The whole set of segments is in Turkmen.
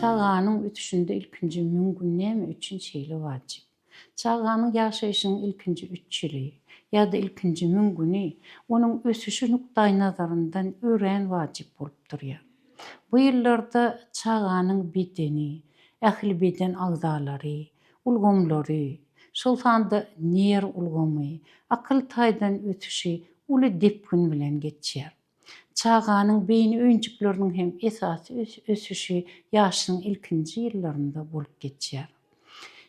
Çaganyň ösüşinde ilkinji müň gün näme üçin şeýle wajyp? Çaganyň ýaşaýşynyň ilkinji üç ýyly, ýa-da ilkinji müň güni onuň ösüşi nukdaýnazaryndan örän wajyp bolup durýar. Bu ýyllarda çaganyň bedeni, ähli beden agzalary, ulgamlary, şol sanda nerw ulgamy, akyl taýdan ösüşi uly depgin bilen geçýär. Çaganyň beýni öýjükleriniň hem esasy ösüşi ýaşlygyň ilkinji ýyllarynda bolup geçýär.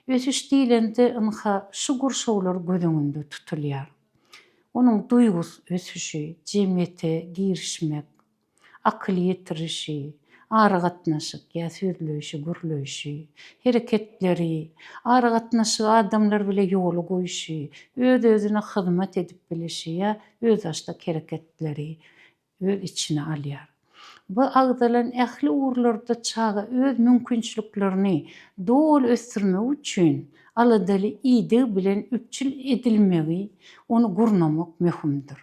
Ösüş diýlende ynha şu gurşawlar göz öňünde tutulýar. Onuň duýgus ösüşi, jemgyýete girişmek, akyl ýetirişi, Aragatnaşyk ýa sözleýşi, gürleýşi, hereketleri, aragatnaşygy adamlar bile ýola goýşy, öz-özüne hyzmat edip bilişi ýa özbaşdak hereketleri öz içine alýar. Bu agzalan ähli ugurlarda çaga öz mümkinçiliklerini doly ösdürmegi üçin aladaly ideg bilen üpjün edilmegi, ony gurnamak möhümdir.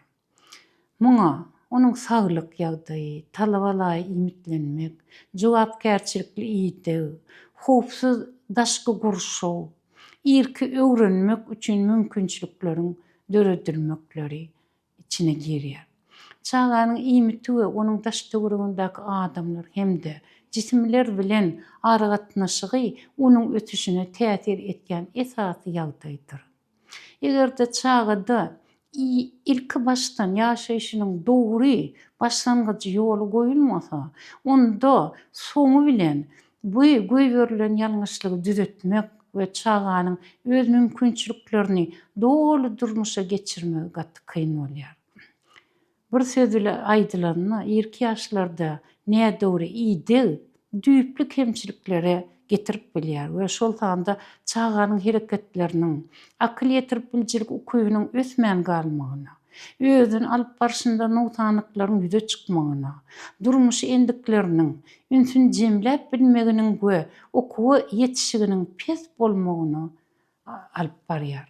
Muňa onuň saglyk ýagdaýy, talabalaýy iýmitlenmek, jogapkärçilikli ideg, howpsuz daşky gurşaw, irki öwrenmek üçin mümkinçilikleriň döredilmekleri içine girýär. Çaganyň iýmiti we onuň daş-töweregindäki adamlar hem-de jisimler bilen aragatnaşygy onuň ösüşine täsir etýän esasy ýagdaýdyr. Eger-de çagada ilkibaşdan ýaşaýşynyň dogry başlangyjy ýola goýulmasa, onda soňy bilen bu goýberilen ýalňyşlygy düzetmek we çaganyň öz mümkinçiliklerini doly durmuşa geçirmegi gaty kyn bolýar. Bir söz bile aýdylanda, irki ýaşlarda nädogry ideg düýpli kemçiliklere getirip bilýär we şol sanda çaganyň hereketleriniň, akyl ýetirip biljilik ukybynyň ösmän galmagyna, özüni alyp barşynda nogsanlyklaryň ýüze çykmagyna, durmuş endikleriniň ünsüni jemläp bilmeginiň we okuwa ýetişiginiň pes bolmagyna alyp barýar.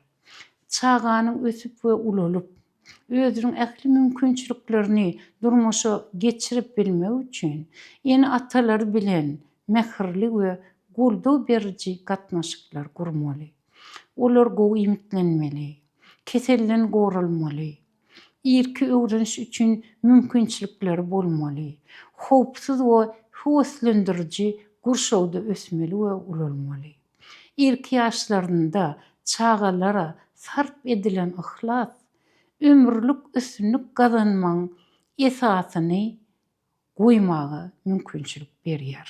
Çaganyň ösüp we ulalyp, özüniň ähli mümkinçiliklerini durmuşa geçirip bilmegi üçin ene-atalary bilen mähirli we goldaw beriji gatnaşyklar gurmaly. Olar gowy iýmitlenmeli, keselden goralmaly. irki öwreniş üçin mümkinçilikleri bolmaly, howpsuz we höweslendiriji gurşawda ösmeli we ulalmaly. Irki ýaşlarynda çagalara sarp edilen yhlas ömürlik üstünlik gazanmagyň esasyny goýmaga mümkinçilik berýär.